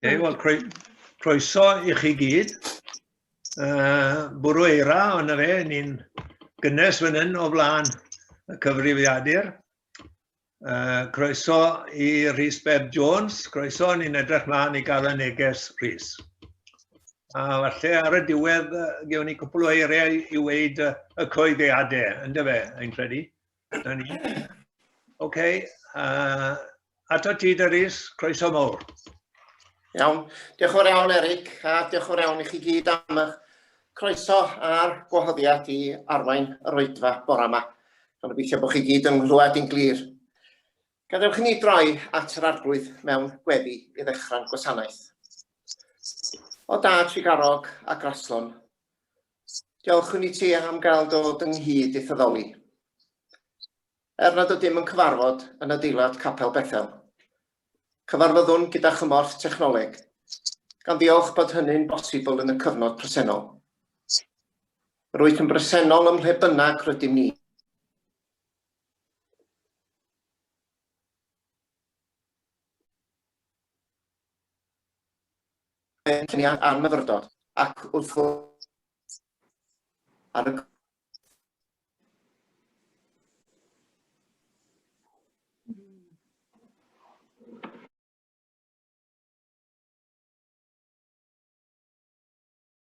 Hey, wel, croeso i chi gyd. Uh, bwrw eira, ond fe, ni'n gynnes fan hyn o flaen y cyfrifiadur. Uh, croeso i Rhys Beb Jones, croeso, ni'n edrych mlaen i gael y neges Rhys. A falle ar y diwedd, uh, gewn ni cwpl o eiriau i weid uh, y coeddiadau, ynddo fe, ein credu. Dyna ni. OK. Uh, Ato ti, Dyrus. Croeso mawr. Iawn. Diolch o'r iawn, Eric, a diolch o'r iawn i chi gyd am eich croeso a'r gwahoddiad i arwain yr oedfa bore yma. Ond gobeithio bod chi gyd yn nghlywed i'n glir. Gadewch i ni droi at yr arglwydd mewn gweddi i ddechrau'n gwasanaeth. O da, trigarog a graslon, Diolch yn i ti am gael dod ynghyd i Thyddoli. Er nad ydym yn cyfarfod yn adeilad Capel Bethel, cyfarfyddwn gyda chymorth technoleg, gan ddiolch bod hynny'n bosibl yn y cyfnod presennol. Rwyt yn bresennol ym mhle bynnag rydym ni. pensiynau a'r myfyrdod, ac wrth gwrs ar y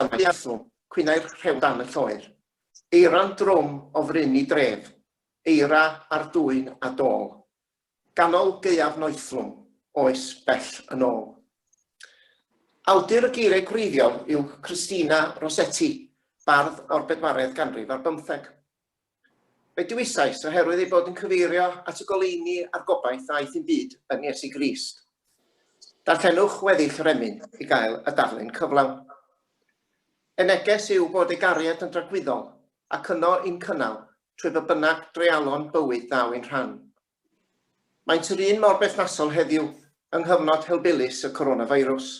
Afiasu, cwynai'r rhew dan y lloer. Eira'n drwm o fryn i dref, eira ar dwyn a dôl. Ganol gaeaf noethlwm, oes bell yn ôl. Awdur y geiriau gwreiddiol yw Christina Rossetti, bardd o'r bedwaredd ganrif ar bymtheg. Fe dewisais, oherwydd ei bod yn cyfeirio at y goleuni a'r gobaith ddaeth i'n byd yn Iesu Grist. Darllenwch weddill yr emyn i gael y darlun cyflawn. Ei neges yw bod ei gariad yn dragwyddol ac yno i'n cynnal trwy be bynnag dreialon bywyd ddaw ein rhan. Maent yr un mor berthnasol heddiw yng nghyfnod helbulus y coronafeirws.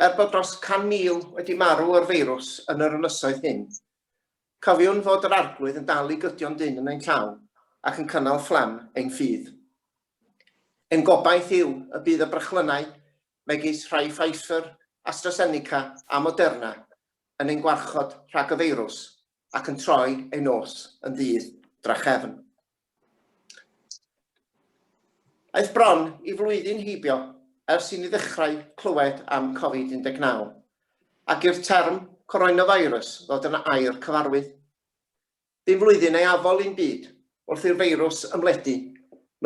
Er bod dros 100,000 wedi marw o'r feirws yn yr ynysoedd hyn, Cofiwn fod yr Arglwydd yn dal i gydio yn dynn yn ein llaw, ac yn cynnal fflam ein ffydd. Ein gobaith yw y bydd y brechlynnau, megis rhai Pfizer, AstraZeneca a Moderna, yn ein gwarchod rhag y feirws ac yn troi ein nos yn ddydd drachefn. Aeth bron i flwyddyn heibio ers i ni ddechrau clywed am Covid-19 ac i'r term coronavirus ddod yn air cyfarwydd. Dim flwyddyn ei afol i'n byd wrth i'r feirws ymledu,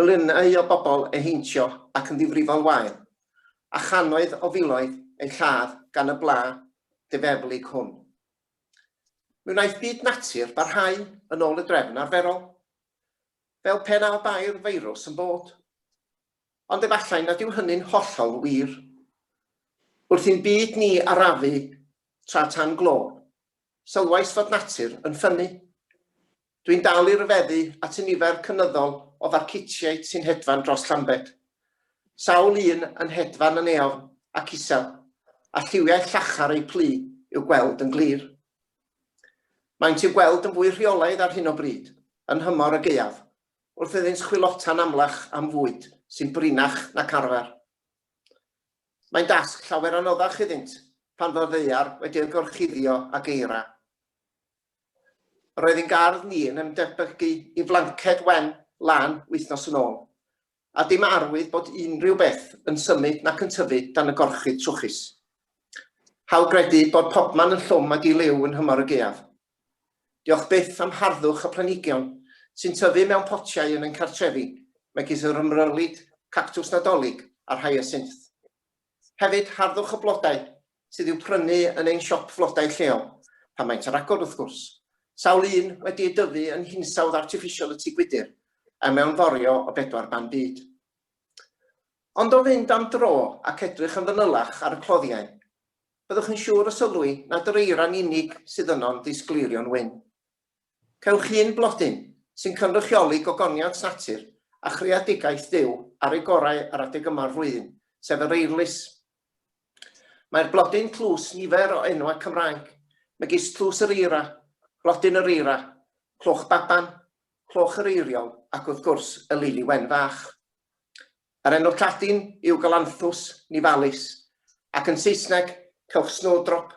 miliynau o bobl ei heintio ac yn ddifrifol wael, a channoedd o filoedd eu lladd gan y bla difeflig hwn. Mi wnaeth byd natur barhau yn ôl y drefn arferol, fel pe na bai'r feirws yn bod. Ond efallai nad yw hynny'n hollol wir. Wrth i'n byd ni arafu tra tan glo, sylwais fod natur yn ffynnu. Dwi'n dal i ryfeddu at y nifer cynyddol o farcutiaid sy'n hedfan dros Llambed. Sawl un yn hedfan yn eofn ac isel, a lliwiau llachar eu plu i'w gweld yn glir. Maent i'w gweld yn fwy rheolaidd ar hyn o bryd, yn nhymor y gaeaf, wrth iddynt chwilota'n amlach am fwyd sy'n brinach nac arfer. Mae'n dasg llawer anoddach iddynt pan fo'r ddaear wedi eu gorchuddio ag eira. Roedd ein gardd ni yn ymdebygu i flanced wen lân wythnos yn ôl, a dim arwydd bod unrhyw beth yn symud nac yn tyfu dan y gorchudd trwchus. Hawl gredu bod pobman yn llwm a di-liw yn nhymor y gaeaf. Diolch byth am harddwch y planhigion sy'n tyfu mewn potiau yn ein cartrefi, megis yr ymrylid, cactws Nadolig a'r hyasinth. Hefyd, harddwch y blodau sydd i'w prynu yn ein siop flodau lleol, pan maent ar agor wrth gwrs, sawl un wedi ei dyfu yn hinsawdd artiffisial y tŷ gwydr a mewnforio o bedwar ban byd. Ond o fynd am dro ac edrych yn fanylach ar y cloddiau, byddwch yn siŵr o sylwi nad yr eira'n unig sydd yno'n ddisgleirion wyn. Cewch hyn blodyn sy'n cynrychioli gogoniant natur a chreadigaeth Duw ar ei gorau ar adeg yma o'r flwyddyn, sef yr Eirlys. Mae'r blodyn tlws nifer o enwau Cymraeg, megis Tlws yr Eira, Blodyn yr Eira, Cloch Baban, Cloch yr Eiriol ac wrth gwrs y Lili Wen Fach. Yr enw Lladin yw Galanthus nivalis ac yn Saesneg cewch Snowdrop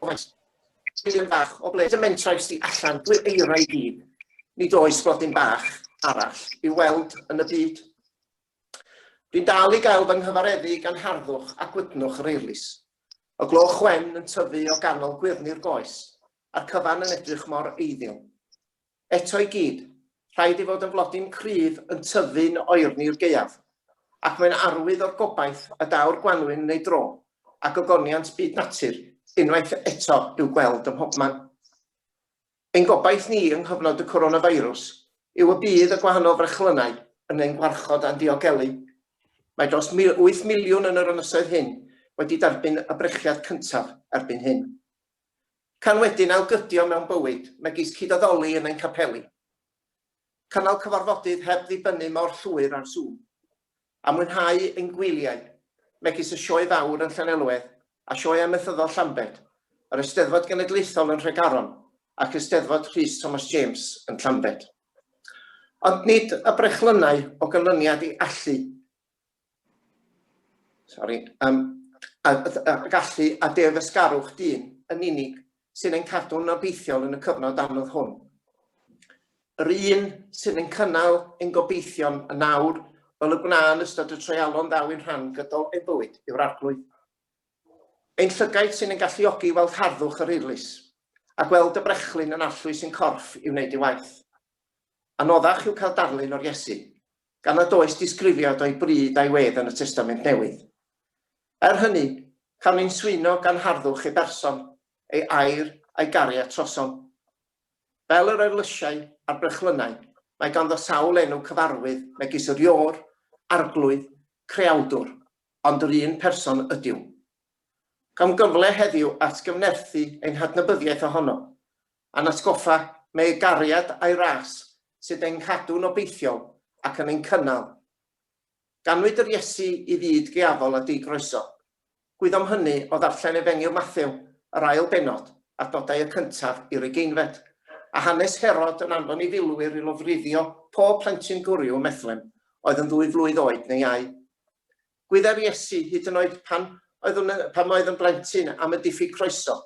Dwi'n bach o ble. Dim mentra i sti allan, dwi'n eira i gyd. Nid oes blodyn bach arall i'w weld yn y byd. Dwi'n dal i gael fy nghyfareddu gan harddwch a gwydnwch yr eirlys. Y gloch wen yn tyfu o ganol gwyrni'r goes, a'r cyfan yn edrych mor eiddiol. Eto i gyd, rhaid ei fod yn flodyn cryf yn tyfu'n oerni i'r gaeaf, ac mae'n arwydd o'r gobaith a daw'r gwanwyn yn ei dro, a gogoniant byd natur, unwaith eto, i'w gweld ym mhobman. Ein gobaith ni yng nghyfnod y coronafeirws yw y bydd y gwahanol frechlynnau yn ein gwarchod a'n diogelu. Mae dros 8 miliwn yn yr ynysoedd hyn wedi derbyn y brechiad cyntaf erbyn hyn. Can wedyn ail gydio mewn bywyd, megis cyd addoli yn ein capeli. Cynnal cyfarfodydd heb ddibynnu mor llwyr ar Zoom. A mwynhau ein gwyliau, megis y Sioe Fawr yn Llanelwedd a Sioe Amaethyddol Llambed, yr Eisteddfod Genedlaethol yn Nhregaron ac Eisteddfod Rhys Thomas James yn Llambed. Ond nid y brechlynnau o ganlyniad i allu Sori. Um, a, a, a gallu a defysgarwch dyn yn unig sy'n ein cadw'n obeithiol yn y cyfnod anodd hwn. Yr un sy'n ein cynnal ein gobeithion yn awr fel y gwna'n ystod y treialon ddaw i'n rhan gydol ein bywyd yw'r arglwydd. Ein llygaid sy'n ein galluogi i weld harddwch yr eirlys, a gweld y brechlyn yn allwys sy'n corff i wneud ei waith. Anoddach yw cael darlun o'r Iesu, gan nad oes disgrifiad o'i bryd a'i wedd yn y Testament Newydd. Er hynny, cawn ein swyno gan harddwch ei berson, ei air a'i gariad trosom. Fel yr eirlysiau a'r brechlynnau, mae ganddo sawl enw cyfarwydd megis yr Iôr, Arglwydd, Creawdwr, ond yr un person ydyw. Cawn gyfle heddiw atgyfnerthu ein hadnabyddiaeth ohono, A'n atgoffa mae ei gariad a'i ras sydd ein cadw'n obeithiol ac yn ein cynnal. Ganwyd yr Iesu i fyd geafol a di-groeso. Gwyddom hynny o ddarllen Efengyl Mathew, yr ail bennod, adnodau y cyntaf i'r ugeinfed. A hanes Herod yn anfon ei filwyr i lofruddio pob plentyn gwryw ym Methlehem oedd yn ddwy flwydd oed neu iau. Gwyddai'r Iesu, hyd yn oed pan oedd yn, pam oedd yn blentyn, am y diffyg croeso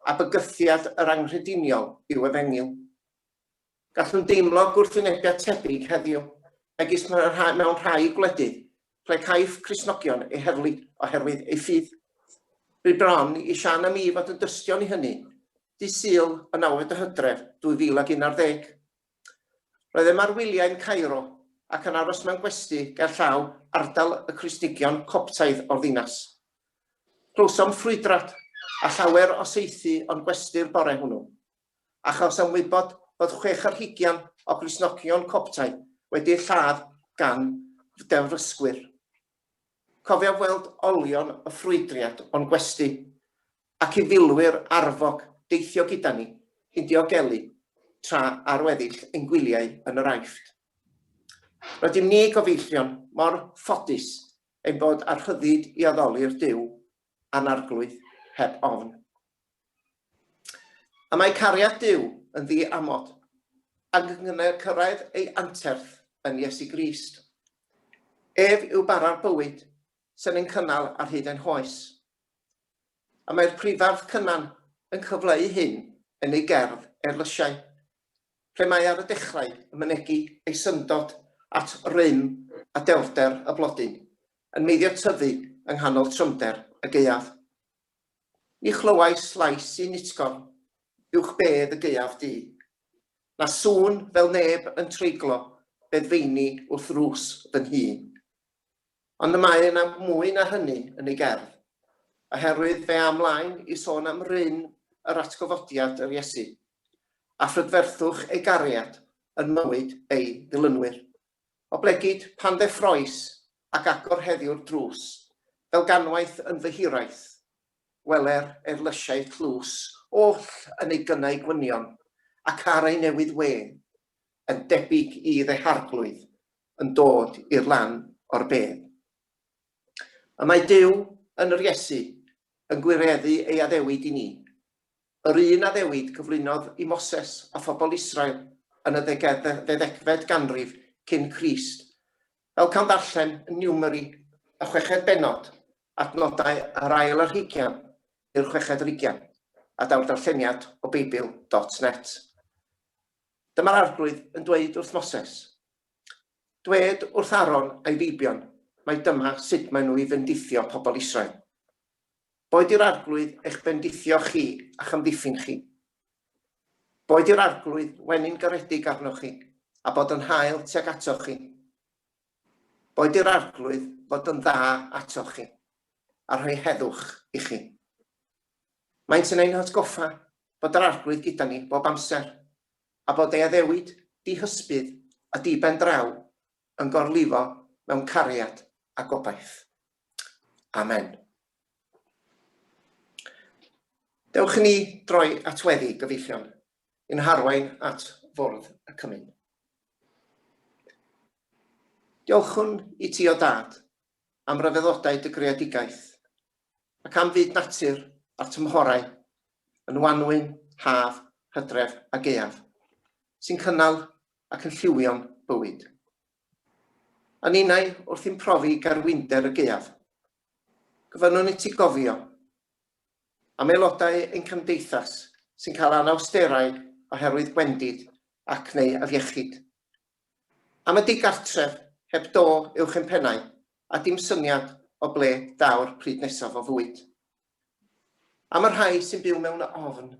a bygythiad yr anghrediniol i'w efengyl. Gallwn deimlo gwrthwynebiad tebyg heddiw, megis mewn rhai gwledydd ple caiff Cristnogion eu heddlu oherwydd eu ffydd. Bu bron i Siân a mi fod yn dystion i hynny, dydd Sul y nawfed o Hydref 2011. Roeddem ar wyliau'n Cairo ac yn aros mewn gwesty gerllaw ardal y Cristnigion Coptaidd o'r ddinas. Clywsom ffrwydrad a llawer o saethu o'n gwesty'r bore hwnnw, a chawsom wybod fod chwech ar hugian o Gristnogion Coptaidd wedi eu lladd gan fdewrysgwyr. Cofiaf weld olion y ffrwydriad o'n gwesty, ac i filwyr arfog deithio gyda ni i'n diogelu tra ar weddill ein gwyliau yn yr Aifft. Rydym ni, Gofieichion, mor ffodus ein bod â'r rhyddid i addoli'r Duw a'n Arglwydd heb ofn. A mae cariad Duw yn ddi-amod, ac yn gynnar cyrraedd ei anterth yn Iesu Grist. Ef yw bara'r bywyd, sy'n ein cynnal ar hyd ein hoes. A mae'r prifardd Cynan yn cyfleu hyn yn ei gerdd Erlysiau, lle mae ar y dechrau yn mynegi ei syndod at rym a dewrder y blodyn, yn meiddio tyfu yng nghanol trymder y gaeaf. Ni chlywais llais un utgor uwch bedd y gaeaf du, na sŵn fel neb yn treiglo beddfeini wrth rws fy nhŷ. Ond y mae yna mwy na hynny yn ei gerdd, oherwydd fe â mlaen i sôn am ryn yr atgyfodiad yr Iesu, a phrydferthwch ei gariad yn mywyd ei ddilynwyr. Oblegid pan ddeffrois ac agor heddiw'r drws, fel ganwaith yn fy hiraeth. Gweler erlysiau tlws oll yn ei gynnau gwynion, ac ar ei newydd wên, yn debyg i ddeharglwydd yn dod i'r lan o'r bedd. Y mae Duw, yn yr Iesu, yn gwireddu ei addewid i ni, yr un addewid gyflwynodd i Moses a phobl Israel yn y ddegfed ganrif cyn Crist, Fel cawn ddarllen yn niwmeri y chweched bennod, adnodau yr ail ar hugian i'r chweched ar ugian, a daw'r darlleniad o Beibl dot net. Dyma'r Arglwydd yn dweud wrth Moses, Dwed wrth Aaron a'i feibion mai dyma sut maen nhw i fendithio pobl Israel. Boed i'r Arglwydd eich bendithio chi a'ch amddiffyn chi, Boed yr Arglwydd weny'n garedig arnoch chi, a bod yn hael tuag atoch chi. Boed i'r Arglwydd fod yn dda atoch chi, a rhoi heddwch i chi. Maent yn ein hatgoffa bod yr Arglwydd gyda ni bob amser, a bod ei addewid dihysbydd a diben draw yn gorlifo mewn cariad a gobaith. Amen. Dewch i ni droi at weddi gyfeillion yn harwain at fwrdd y cymyn. Diolchwn i ti o dad am ryfeddodau dy greadigaeth ac am fyd natur a'r tymhorau yn wanwyn, haf, hydref a gaeaf sy'n cynnal ac yn lliwio'n bywyd. A ninnau wrth i'm profi garwinder y gaeaf, gofynnwn iti gofio am aelodau ein cymdeithas sy'n cael anawsterau oherwydd gwendid ac neu afiechyd? Am y digartref heb do uwch ein pennau a dim syniad o ble daw'r pryd nesaf o fwyd? Am y rhai sy'n byw mewn ofn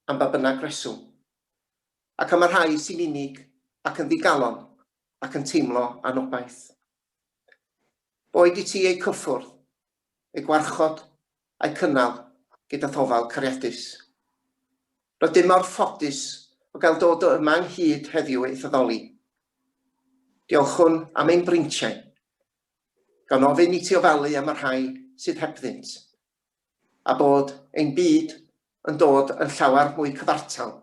am ba bynnag reswm? ac am y rhai sy'n unig ac yn ddigalon ac yn teimlo anobaith. Boed i ti eu cyffwrdd, eu gwarchod, a'u cynnal gyda thofal cariadus. Rydym mor ffodus o gael dod o yma ynghyd heddiw i'th addoli. Diolchwn am ein breintiau, gan ofyn i ti ofalu am y rhai sydd hebddynt, a bod ein byd yn dod yn llawer mwy cyfartal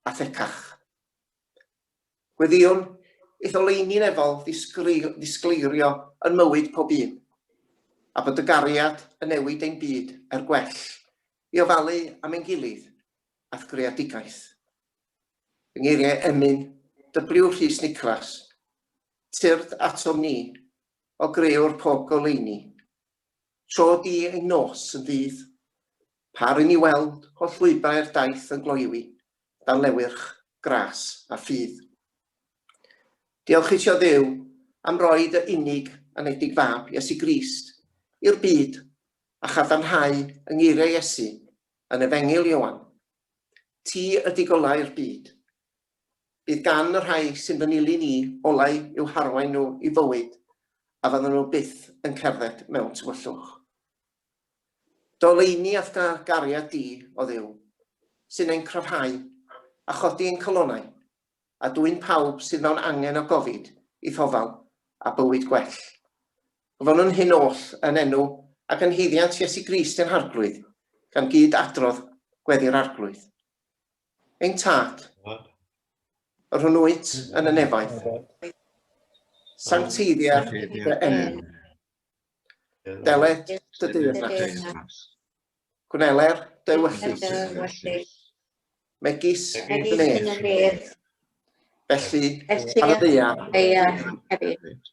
a thecach. Gweddïwn i'th oleuni'n efol ddisgleirio yn mywyd pob un, a bod dy gariad yn newid ein byd er gwell, i ofalu am ein gilydd a'th greadigaeth. Fy ngeiriau emyn, W. Rhys Niclas, Tyrd atom ni, o grëwr pob goleuni, Tro di ei nos yn ddydd. Pa r'yn ni weld holl lwybrau'r daith yn gloywi dan lewyrch gras a ffydd. Diolch i ti o Dduw am roi dy unig anedig fab, Iesu Grist, i'r byd a chadarnhau yng ngeiriau Iesu yn Efengyl Ioan, Ti ydi golau'r byd, Bydd gan y rhai sy'n fy nilyn i olau i'w harwain nhw i fywyd a fyddan nhw byth yn cerdded mewn tywyllwch. Doleini a'th gariad di, o Dduw, sy'n ein cryfhau a chodi ein calonau, a dwyn pawb sydd mewn angen o gofid i thofal a bywyd gwell. Gofynnwn hyn oll yn enw ac yn haeddiant Iesu Grist ein Harglwydd, gan gyd adrodd Gweddi'r Arglwydd. Ein tad, yr hwn wyt yn y nefaeth, sancteiddia dy enw. Deled dy deyrnas. Gwneler dy wyllys. Megis yn ef. Felly, ar y ddeia hefyd.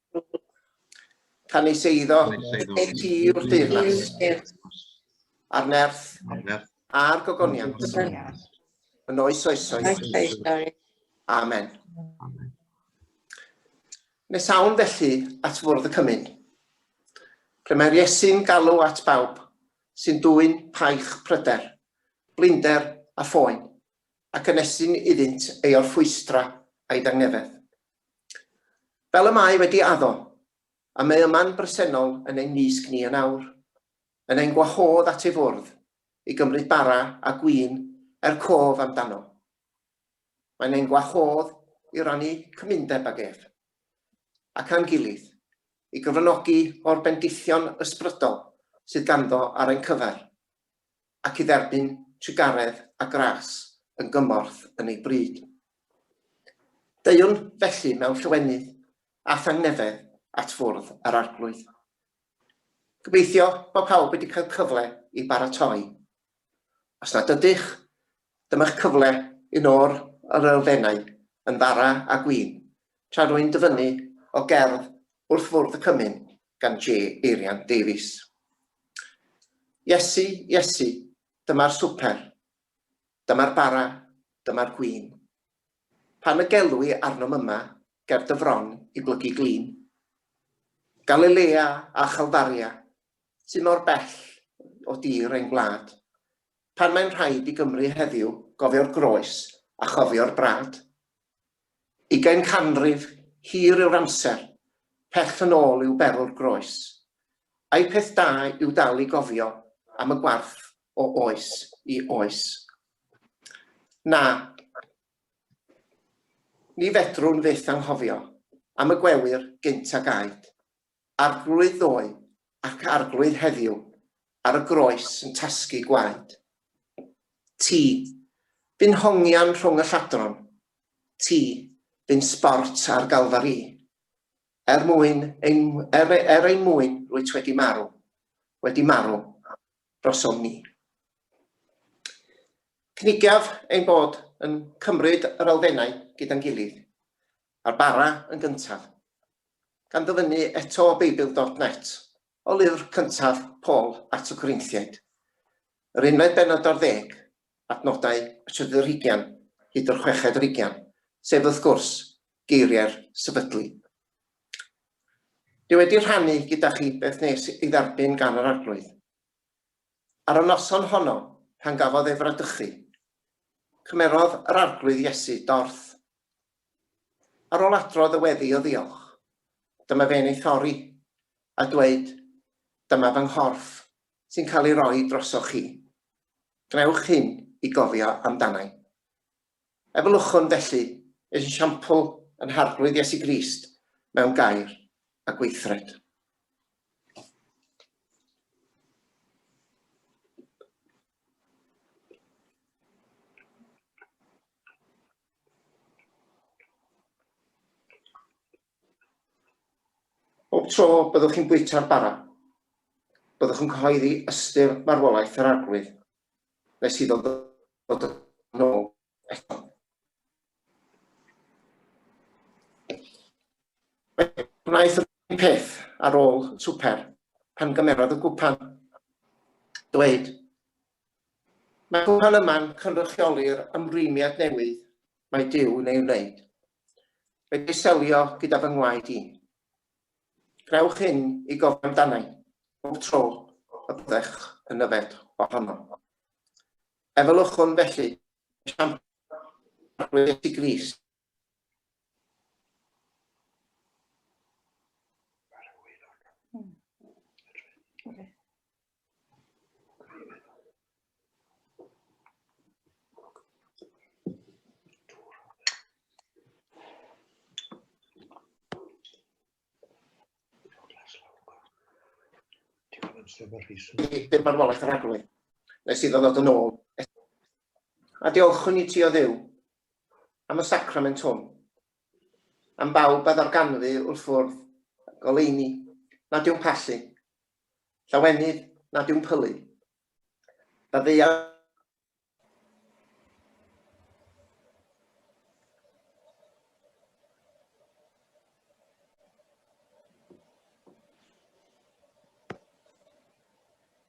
Canys eiddo, ti yw'r deyrnas, a'r nerth, a'r gogoniant, yn oes oesoedd. Amen. Nes awn felly at fwrdd y cymyn, lle mae'r Iesu'n galw at bawb sy'n dwy'n paich pryder, blinder a phoen, ac yn esyn iddynt ei orffwystra a'i dangnefedd. Fel y mae wedi addo, a mae yma'n bresennol yn ein mysg ni yn awr, yn ein gwahodd at ei fwrdd, i gymryd bara a gwin er cof am dano. Mae'n ein gwahodd i rannu cymundeb ag ef, ac â'n gilydd, i gyfranogi o'r bendithion ysbrydol sydd ganddo ar ein cyfer. ac i dderbyn sigaredd a gras yn gymorth yn ei bryd. Deuwn felly mewn llawenydd a thangnefedd at Fwrdd yr Arglwydd. Gobeithio bod pawb wedi cael cyfle i baratoi. Os nad ydych, dyma'ch cyfle un o'r yr elfennau yn fara a gwin tra rwy'n dyfynnu o gerdd Wrth Fwrdd y Cymun gan J. Eirian Davies. Iesu, Iesu, dyma'r swper, dyma'r bara, dyma'r gwin. Pan y gelw i arnom yma ger dy fron i blygu glin. Galilea a Chalfaria, sy mor bell o dir ein gwlad. Pan mae'n rhaid i Gymru heddiw gofio'r groes a chofio'r brad. Ugain canrif hir yw'r amser, pell yn ôl i'w berl'r groes. Ai peth da yw dal i gofio am y gwarth o oes i oes? Na. Ni fedrwn fyth anghofio am y gwewyr gynt a gaed. Arglwydd ddoe ac Arglwydd heddiw ar y groes yn tasgu gwaed. Ti, bu'n hongian rhwng y lladron, ti, bu'n sbort ar Galfari. Er mwyn ein, er, er ein mwyn rwyt wedi marw, wedi marw drosom ni. Cynigiaf ein bod yn cymryd yr elfennau gyda'n gilydd, Ar bara yn gyntaf. Gan ddyfynnu eto o Beibl dot net, o lyfr cyntaf Paul at y Corinthiaid, yr unfed bennod ar ddeg, adnodau y trydydd ar hugain hyd yr chweched ar ugain, sef wrth gwrs, geiriau'r sefydlu. Dwi wedi rhannu gyda chi beth nes ei dderbyn gan yr Arglwydd. Ar y noson honno, pan gafodd ei fradychu, cymerodd yr Arglwydd Iesu dorth Ar ol adrodd y weddi o ddiolch, dyma fe'n ei thorri, a dweud, Dyma fy nghorff, sy'n cael ei roi drosoch chi. Gwnewch hyn i gofio amdana'i. Efelychwn, felly, esiampl yn Harglwydd Iesu Grist mewn gair a gweithred. Bob tro byddwch chi'n bwyta'r bara, byddwch yn cyhoeddi ystyr farwolaeth yr Arglwydd, nes iddo ddod yn ôl eto. Mae gwnaeth yr un peth ar ôl swper, pan gymerodd y gwpan. Dweud, Mae'r cwpan yma'n cynrychiolir ymrwymiad newydd mae Duw yn ei wneud. Wedi ei selio gyda fy ngwaed i. Gwnewch hyn i gofio amdana'i bob tro y byddech yn yfed ohono. Efelychwn felly y siampr arglwyddes i Grist Bydd marwolaeth yr agwedd. Nes iddo ddod yn ôl. A diolchwn i ti o dduw am y sacrament hwn, am bawb a ddarganfu wrth fwrdd y goleuni nad yw'n pallu, llawenydd nad yw'n pylu, da ddeuawd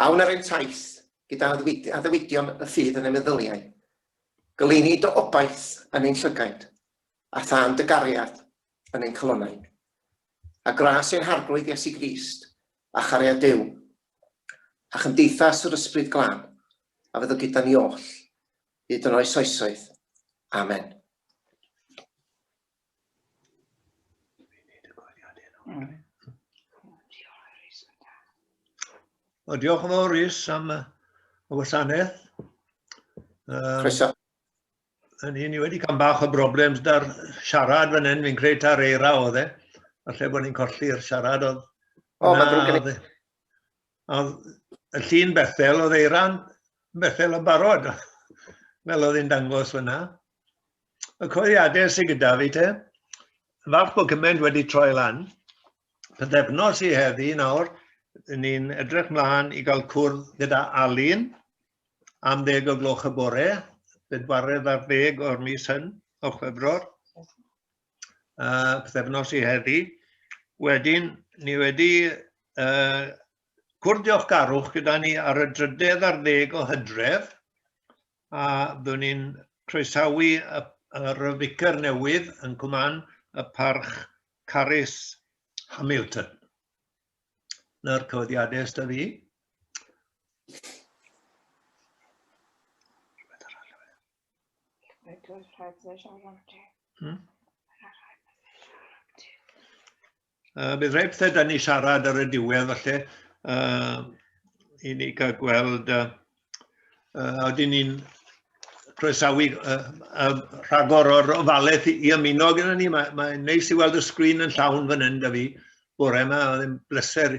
A wna rym taith gyda addewidion y ffydd yn ein meddyliau, goleuni dy obaith yn ein llygaid, a thân dy gariad yn ein calonnau. A gras ein harglwydd Iesu Grist, a chariad Duw, a chymdeithas yr ysbryd glân, a fydd o gyda ni oll, hyd yn oes oesoedd. Amen. O, diolch yn fawr Rhys am y wasanaeth. Um, Croeso. Yn hyn, ni wedi cael bach o broblem da'r siarad fan hyn, fi'n credu ta'r eira oedd e. Falle bod ni'n colli'r siarad oedd... O, mae'n ddrwg gen i. y llun Bethel, oedd Eiran Bethel yn barod, fel oedd hi'n dangos fyna. Y coeddiadau sydd gyda fi te, falch bod cymaint wedi troi lan. Pythefnos i heddi nawr, ni'n edrych mlaen i gael cwrdd gyda Alun am ddeg o gloch y bore, bedwaredd ar ddeg o'r mis hyn, o chwefror. uh, pethefnos i heddi. Wedyn, ni wedi uh, cwrdd diolchgarwch gyda ni ar y drydedd ar ddeg o hydref, a byddwn ni'n croesawu yr ficer newydd yn cwman y parch Carys Hamilton. Na'r cyfyddiadau ystod fi. Rhaid oes rhaid fe siarad am ti. Hmm? Uh, bydd rhaid pethau da ni siarad ar y diwedd falle uh, i ni cael gweld uh, uh, oedden ni'n croesawu uh, uh, rhagor o'r ofalaeth i ymuno gyda ni. Mae'n mae neis i weld y sgrin yn llawn fan hyn da fi bore yma, oedd yn bleser